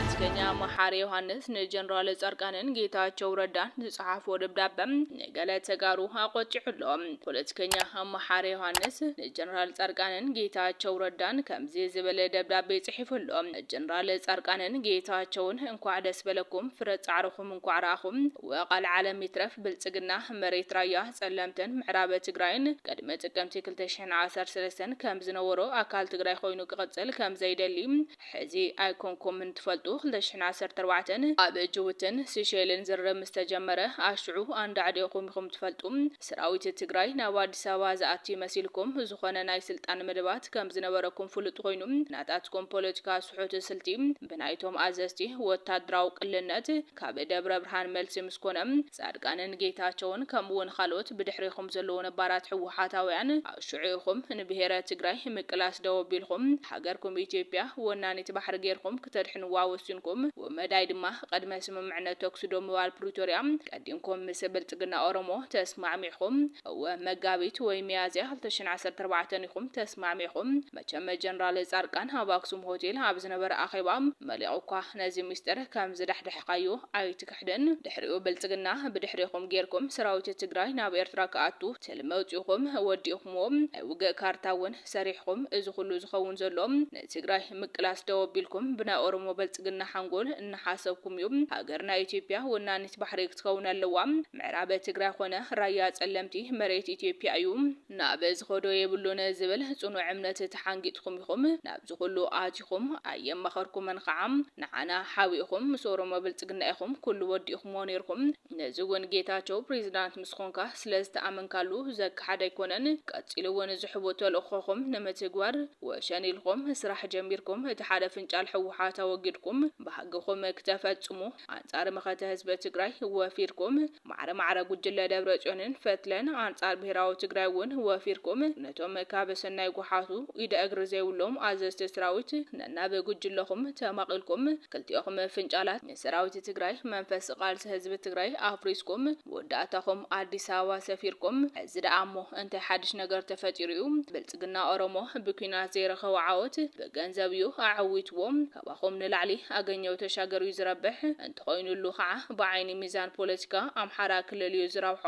ፖለቲከኛ መሓሪ ዮሃንስ ንጀነራል ፃድቃንን ጌታቸው ረዳን ዝፀሓፎ ደብዳበ ንገለ ተጋሩ ኣቖጢዑ ኣሎ። ፖለቲከኛ መሓሪ ዮሃንስ ንጀነራል ፃድቃንን ጌታቸው ረዳን ከምዚ ዝበለ ደብዳቤ ፅሒፉ ኣሎ። ጀነራል ፃድቃንን ጌታቸውን እንኳዕ ደስ በለኩም ፍረ ፃዕርኹም እንኳዕ ረኣኹም እወ ቃል ዓለም ይትረፍ ብልፅግና መሬት ራያ ፀለምትን ምዕራብ ትግራይን ቅድሚ ጥቅምቲ ክልተ ሽሕን ዓሰርተ ሰለስተን ከምዝነበሮ ኣካል ትግራይ ኮይኑ ክቕፅል ከምዘይደሊ ሕዚ ኣይኮንኩምን ትፈልጡ ክልተ ሽሕን ዓሰርተ ኣርባዕተን ኣብ ጅቡትን ሲሸይልን ዝርርብ ምስ ተጀመረ ኣሽዑ ኣንዳዕዲእኹም ኢኹም ትፈልጡ ስራዊት ትግራይ ናብ ኣዲስ ኣበባ ዝኣቲ መሲልኩም ዝኾነ ናይ ስልጣን መደባት ከም ዝነበረኩም ፍሉጥ ኮይኑ ናታትኩም ፖለቲካ ስሑት ስልቲ ብናይቶም ኣዘዝቲ ወታደራዊ ቅልነት ካብ ደብረብርሃን መልሲ ምስ ኮነ ፃድቃንን ጌታቸውን ከምኡ ውን ኻልኦት ብድሕሬኹም ዘለዉ ነባራት ህወሓታውያን ኣሹዑ ኢኹም ንብሄረ ትግራይ ምቅላስ ደው ኣቢልኹም ሃገርኩም ኢትዮጵያ ወናኒት ባሕሪ ጌርኹም ክተድሕንዋ ወሲንኩም ብመዳይ ድማ ቐድመ ስምምዕነት ተኩሲ ደው ምባል ፕሪቶርያ ቀዲምኩም ምስ ብልፅግና ኦሮሞ ተስማዕሚዕኹም እወ መጋቢት ወይ ሚያዝያ ክልተ ሽሕን ዓሰርተ ኣርባዕተን ኢኹም ተስማዕሚዕኹም መቸም ጀነራል ጻድቃን ኣብ ኣክሱም ሆቴል ኣብ ዝነበረ ኣኼባ መሊቑኳ ነዚ ምስጢር ከም ዝዳሕዳሕካዮ ኣይትክሕድን። ድሕሪኡ ብልጽግና ብድሕሬኹም ጌርኩም ሰራዊት ትግራይ ናብ ኤርትራ ክኣቱ ትልሚ ኣውጺእኹም ወዲእኹምዎ። ናይ ውግእ ካርታ እውን ሰሪሕኹም። እዚ ኩሉ ዝኸውን ዘሎ ንትግራይ ምቅላስ ደው ኣቢልኩም ብናይ ኦሮሞ ብልጽግና ሓንጎል እናሓሰብኩም እዩ። ሃገርና ኢትዮጵያ ወናኒት ባሕሪ ክትከውን ኣለዋ። ምዕራብ ትግራይ ኾነ ራያ ጸለምቲ መሬት ኢትዮጵያ እዩ። ናብ ዝኸዶ የብሉን ዝብል ጽኑዕ እምነት ተሓንጊጥኩም ኢኹም ናብዚ ኩሉ ኣቲኹም። ኣየማኸርኩምን ኸዓ። ንዓና ሓቢእኹም ምስ ኦሮሞ ብልጽግና ኢኹም ኩሉ ወዲእኹምዎ ኔርኩም። ነዚ እውን ጌታቸው ፕሬዚዳንት ምስ ኾንካ ስለ ዝተኣመንካሉ ዘከሓድ ኣይኮነን። ቀጺሉ እውን ዝሕቡእ ተልእኾኹም ንምትግባር ወሸኒ ኢልኹም ስራሕ ጀሚርኩም እቲ ሓደ ፍንጫል ህወሓት ኣወጊድኩም ባህግኹም ክተፈጽሙ ኣንጻር መኸተ ህዝቢ ትግራይ ወፊርኩም። ማዕረ ማዕረ ጉጅለ ደብረፅዮንን ፈትለን ኣንፃር ብሄራዊ ትግራይ እውን ወፊርኩም ነቶም ካብ ሰናይ ጉሓቱ ኢደ እግሪ ዘይብሎም ኣዘዝቲ ስራዊት ነናብ ጉጅለኹም ተማቒልኩም ክልቲኦኹም ፍንጫላት ንሰራዊት ትግራይ መንፈስ ቓልሲ ህዝቢ ትግራይ ኣፍሪስኩም መወዳእታኹም ኣዲስ ኣበባ ሰፊርኩም ሕዚ ደኣ እሞ እንታይ ሓድሽ ነገር ተፈጢሩ እዩ ብልፅግና ኦሮሞ ብኲናት ዘይረኸቦ ዓወት ብገንዘብ እዩ ኣዐዊትዎ ካባኹም ንላዕሊ ኣገኘው ተሻገር እዩ ዝረብሕ ተኾይኑሉ ካዓ ብዓይኒ ሚዛን ፖለቲካ ኣምሓራ ክልል እዩ ዝረብሖ።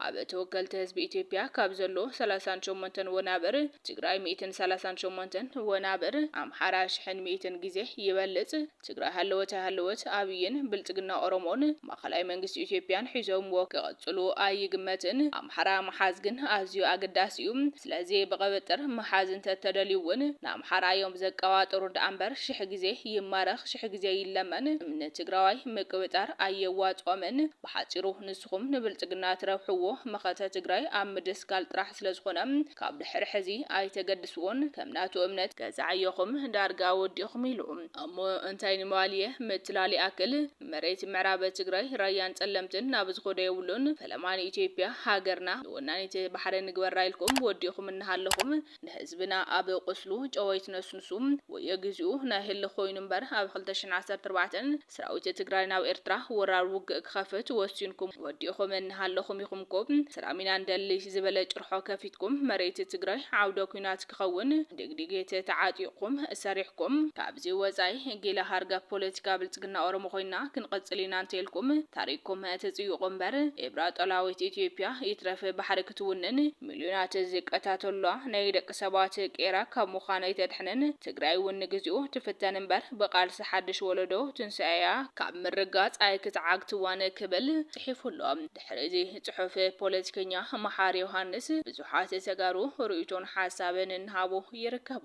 ኣብ ተወከልቲ ህዝቢ ኢትዮጵያ ካብ ዘሎ ሰላሳን ሸሞንተን ወናብር ትግራይ ሚእትን ሰላሳን ሸሞንተን ወናብር ኣምሓራ ሽሕን ሚእትን ግዜ ይበልፅ። ትግራይ ሃለወት ኣይሃለወት ኣብይን ብልፅግና ኦሮሞን ማእኸላይ መንግስቲ ኢትዮጵያን ሒዞምዎ ክቕፅሉ ኣይግመትን። ኣምሓራ ምሓዝ ግን ኣዝዩ ኣገዳሲ እዩ። ስለዚ ብቕብጥር ምሓዝ እንተተደልዩ ውን ንኣምሓራ እዮም ዘቀባጥሩ ድኣምበር ሽሕ ግዜ ይማረኽ ሽሕ ግዜ ይለመን ንትግራዋይ ምቅብጣር ኣየዋጽኦምን ብሓጺሩ ንስኹም ንብልጽግና ትረብሕዎ መኸተ ትግራይ ኣብ ምድስካል ጥራሕ ስለዝኾነ ካብ ድሕሪ ሕዚ ኣይተገድስዎን ከም ናቱ እምነት ገዛዓዮኹም ዳርጋ ወዲኹም ኢሉ እሞ እንታይ ንምባል እየ ምትላል ይኣክል። መሬት ምዕራብ ትግራይ ራያን ፀለምትን ናብ ዝኮዶ የብሉን ፈለማ ንኢትዮጵያ ሃገርና ንወናኒት ባሕሪ ንግበራ ኢልኩም ወዲእኩም እናሃለኩም ንህዝብና ኣብ ቁስሉ ጨው ኣይትነስንሱ ወዮ ግዚኡ ናይ ህልኽ ኮይኑ እምበር ኣብ ክልተ ሽሕን ዓሰርተ ኣርባዕተ ስራዊት ትግራይ ናብ ኤርትራ ወራር ውግእ ክከፍት ወሲንኩም ወዲእኩም እናሃለኩም ኢኩም እኮ ስራም ኢና ንደሊ ዝበለ ጭርሖ ከፊትኩም መሬት ትግራይ ዓውደ ኩናት ክኸውን ድግዲጊት ተዓጢቕኩም ሰሪሕኩም ካብዚ ወጻኢ ጊላ ሃርገፍ ፖለቲካ ብልጽግና ኦሮሞ ኮይንና ክንቕጽል ኢና እንተኢልኩም ታሪኽኩም ትጽይቑ እምበር ኤርትራ ጠላዊት ኢትዮጵያ ይትረፍ ባሕሪ ክትውንን ሚልዮናት ዝቀታተሉላ ናይ ደቂ ሰባት ቄራ ካብ ምዃን ኣይተድሕንን ትግራይ እውን ንግዚኡ ትፍተን እምበር ብቓልሲ ሓድሽ ወለዶ ትንሳኤኣ ካብ ምርጋጽ ኣይክትዓግትዋን ክብል ጽሒፉ ኣሎ። ድሕሪ እዚ ፅሑፍ ፖለቲከኛ መሓሪ ዮሃንስ ብዙሓት ተጋሩ ርእይቶን ሓሳብን እናሃቡ ይርከቡ።